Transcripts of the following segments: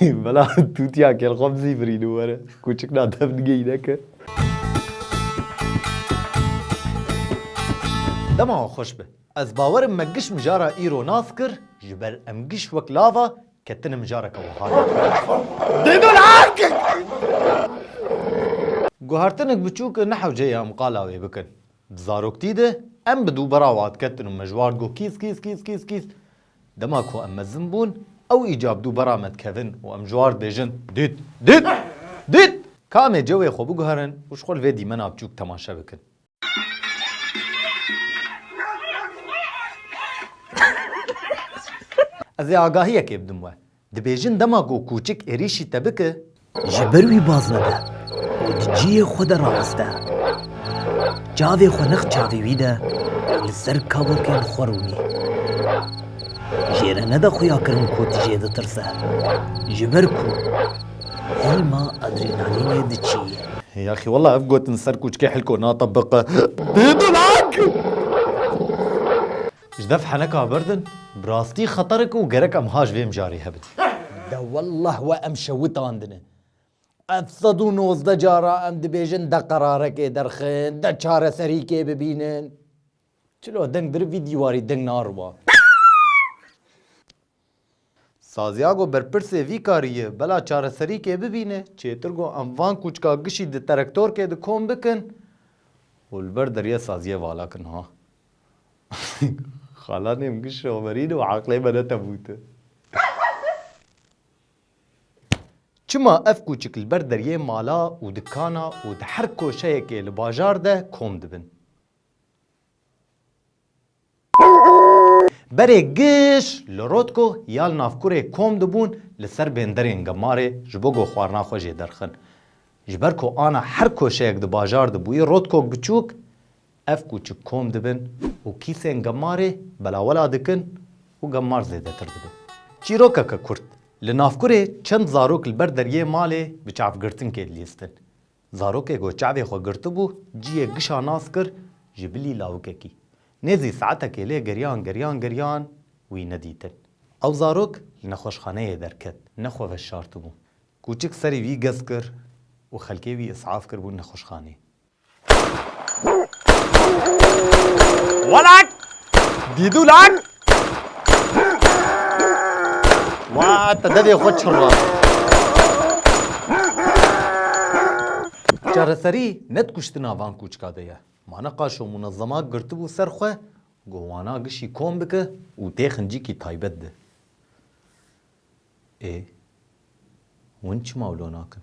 Mela tûtiya kel xwe bi zî birînin were. Kûçik na dev nigeyîne ke. Dema wan xweş be. Ez bawer im me giş mijara îro nas kir ji ber em giş wek lava ketine mijareke wiha de. Guhertinek biçûk ne hewceyê em qala wê bikin. Di zaroktî de em bi dû bera wan diketin û me ji wan digot kîz kîz kîz kîz kîz. Dema ku em mezin bûn, ew îcab dû bera me dikevin û em ji war dibêjin, Dît! Dît! Dît! Ka em ê cewê xwe biguherin û ji xwe li vê dîmena biçûk temaşe bikin. Ez ê agahiyekê bidim we. Dibêjin dema ku kûçik êrîşî te bike. Ji ber wî baz nede û di cihê xwe de raweste. Çavê xwe nex çavê wî de û li ser kavokên xwe rûnî. Jê re nede xuyakirin ku tu jê ditirse, ji ber ku hêlma adrenalînê diçî. Yaxî wela ev gotin ser kûçikê hilko natebiqe. Bêdulak! Ji dev heneka birdin, bi rastî xeter e ku gerek em ha ji vê mijarê hebin. De wellah we em şewitandine. Ev sed û nozdeh car a em dibêjin de qerarekê derxin, de çareserîkê bibînin. Çilo deng dirivî dîwarî deng nariba. Saziago berpirsê vî karî ye, bela çareserîkê bibîne, çêtir got em van kûçka gişî di terektorkê de kom bikin û li ber deriyê saziyê vala kin ha. Xalanê min giş şoverîn û eqlê me netebûte. Çima ev kûçik li ber deriyê mala û dikana û di her koşeyekê li bajar de kom dibin. Berê Giş li Rotko ya li Navkurê kom dibûn li ser bênderên Gemarê ji bo go xwarina xwe jê derxin. Ji ber ku ana her koşeyek di bajar de bûyî Rotko Giçûk, ev kûçik kom dibin û kîsên Gemarê belawela dikin û Gemar zêdetir dibin. Çîrokeke kurt, Li Navkurê çend zarok li ber deryê malê bi çavgirtinkê dilîstin. Zarokê ku çavê xwe girtibû ciyê gişa nas kir ji bilî lawikekî. Nêzî saetekê lê geriyan geriyan geriyan wî nedîtin. Ew zarok li nexweşxaneyê derket. Ne xwe veşartibû. Kûçik serî wî gez kir û xelkê wî isaf kiribûn nexweşxanê. Walak! Dîdûlak! Wa te devê xwe çirra. Çareserî ne dikuştina van kûçika de ye. Ma ne qaşo munezema girtibû ser xwe ku wana gişî kom bike û tê xincikî taybet de. Ê, hûn çima wilo nakin?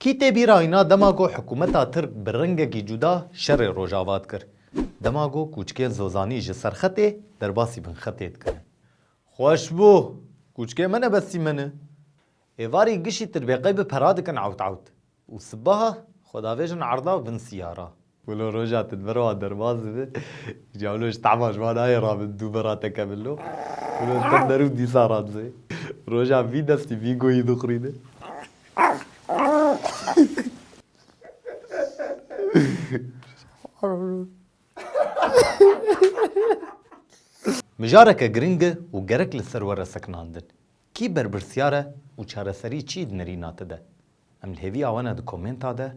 Kî tê bîra îna dema ku hikûmeta Tirk bi rengekî cuda şerê Rojava dikir, dema ku kûçikên Zozanî ji serxetê derbasî binxetê dikirin. Xweş bû! Kûçikê me ne bestî me ne. Êvarî gişî tirbêqey bi pera dikin ewt ewt û sibaha xwedavêjin erda vin siyara. Wilo roja te di ber wan derbas dibe. Îcar wilo ji tehma ji wan nayê ra min dû bera te ke min lo. Wilo li ser derûn dîsa ra dize. Rojan vî destî vî goyî dixwîne. Mijareke giring e û gerek li ser were sekinandin. Kî berpirsyar e û çareserî çi yê di nirîna te de? Em li hêviya wan e di komenta de